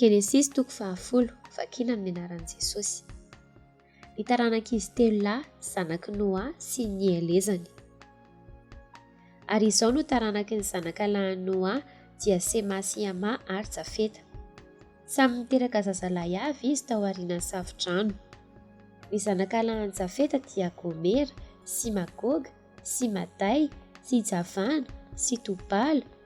Genesisy toko fahafolo, vakina amin'ny anaran'i Jesosy. Ny taranak'izy telo lahy, zanak'i Noa sy ny nielezany. Ary izao no taranaky ny zanakalahin'i Noa, dia Sema sy Hama ary Jafeta. Samy niteraka zazalahy avy izy tao aorianan'ny Safodrano. Ny zanakalahin'i Jafeta dia Gomera sy Magoga sy Maday sy Javana sy Tobala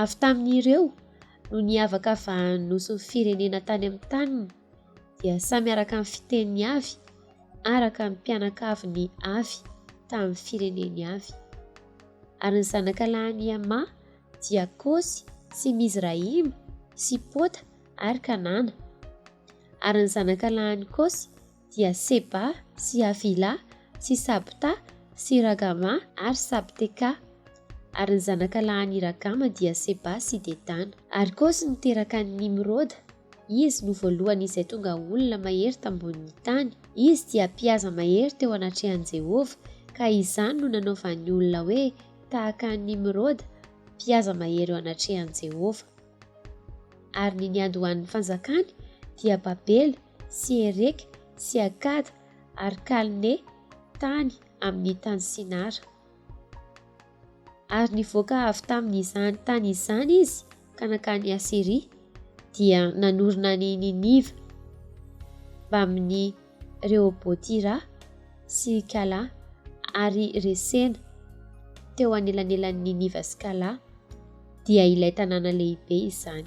Avy tamin'ireo no niavaka vahanin'ny nosin'ny firenena tany amin'ny taniny dia samy araka ny fiteniny avy, araka ny mpianakaviny avy tamin'ny fireneny avy. Ary ny zanaka lahin'i Hema dia Kosy sy Mizrahima sy Pota ary Kanana. Ary ny zanaka lahin'i Kosy dia Seba sy Havila sy Sabta sy Ragama ary Sabteka. Ary ny zanaka lahin' i Ragama dia Seba sy Dedana. Ary Kosy niteraka an' i Nimroda, izy no voalohany izay tonga olona mahery tambonin' ny tany. Izy dia mpihaza mahery teo anatrehan' Jehovah, ka izany no nanaovan' ny olona hoe tahaka an' Nimroda, mpihaza mahery eo anatrehan' Jehovah. Ary ny niandohan' ny fanjakany dia Babela, sy Ereka sy Akada ary Kalne tany amin' ny tany Sinara. Ary nivoaka avy tamin' izany tany izany izy ka nankany Asiria, dia nanorina an' i Niniva mbamin' i Rehobôtira sy Kalà ary Resena teo anelanelan' i Niniva sy Kalà, dia ilay tanàna lehibe izany.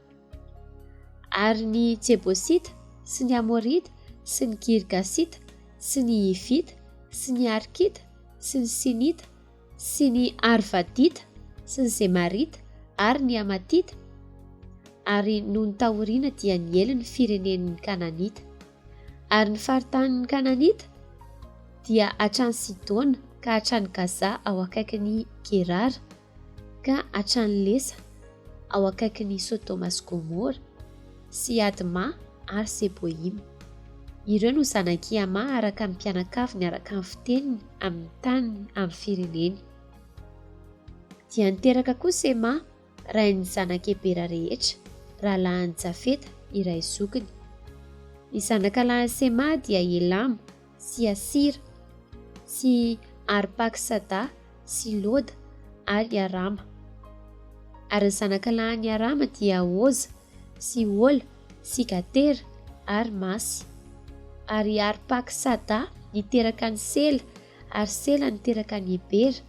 Ary ny Jebosita, sy ny Amorita, sy ny Girgasita, sy ny Hivita, sy ny Arkita, sy ny Sinita, sy ny Arvadita, sy ny Zemarita, ary ny Hamatita, ary nony taoriana dia niely ny firenen' ny Kananita. Ary ny faritanin' ny Kananita dia hatrany Sidona ka hatrany Gaza ao akaikin' i Gerara, ka hatrany Lesa, ao akaikin' i Sodoma sy Gomora, sy Adma ary Seboima. Ireo no zanak' i Hama araka ny mpianakaviny araka ny fiteniny amin' ny taniny amin' ny fireneny. Dia niteraka koa Sema, rain' ny zanak' Ebera rehetra, rahalahan' i Jafeta, iray zokiny. Ny zanaka lahin' i Sema dia Elama. sy Asira, sy Arpaksada sy Loda ary Arama. Ary ny zanaka lahin'i Arama dia Oza sy Ola sy Gatera ary Masy. Ary Arpaksada niteraka an'i Sela, ary Sela niteraka an'i Ebera,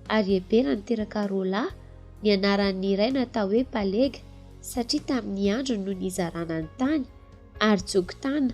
ary Ebera niteraka Rola, ny anaran'ny ray natao hoe Palega, satria tamin'ny androny no nizarana ny tany, ary Joktana,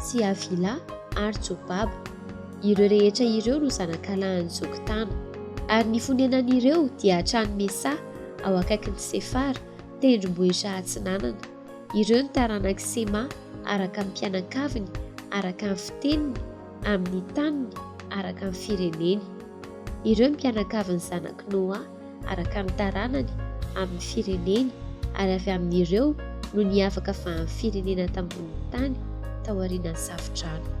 sy Havila ary Jobaba. Ireo rehetra ireo no zanakalahin'i Jokotana. Ary ny fonenan'ireo dia hatrany Mesa, ao akaikin'i Sefara, tendrombohitra atsinanana. Ireo no taranak'i Sema araka ny mpianakaviny, araka ny fiteniny, amin'ny taniny, araka ny fireneny. Ireo mpianakavy ny zanak'i Noa, araka ny taranany, amin'ny fireneny, ary avy amin'ireo no niavaka avy amin'ny firenena tambonin'ny tany taorianan'ny Safo-drano.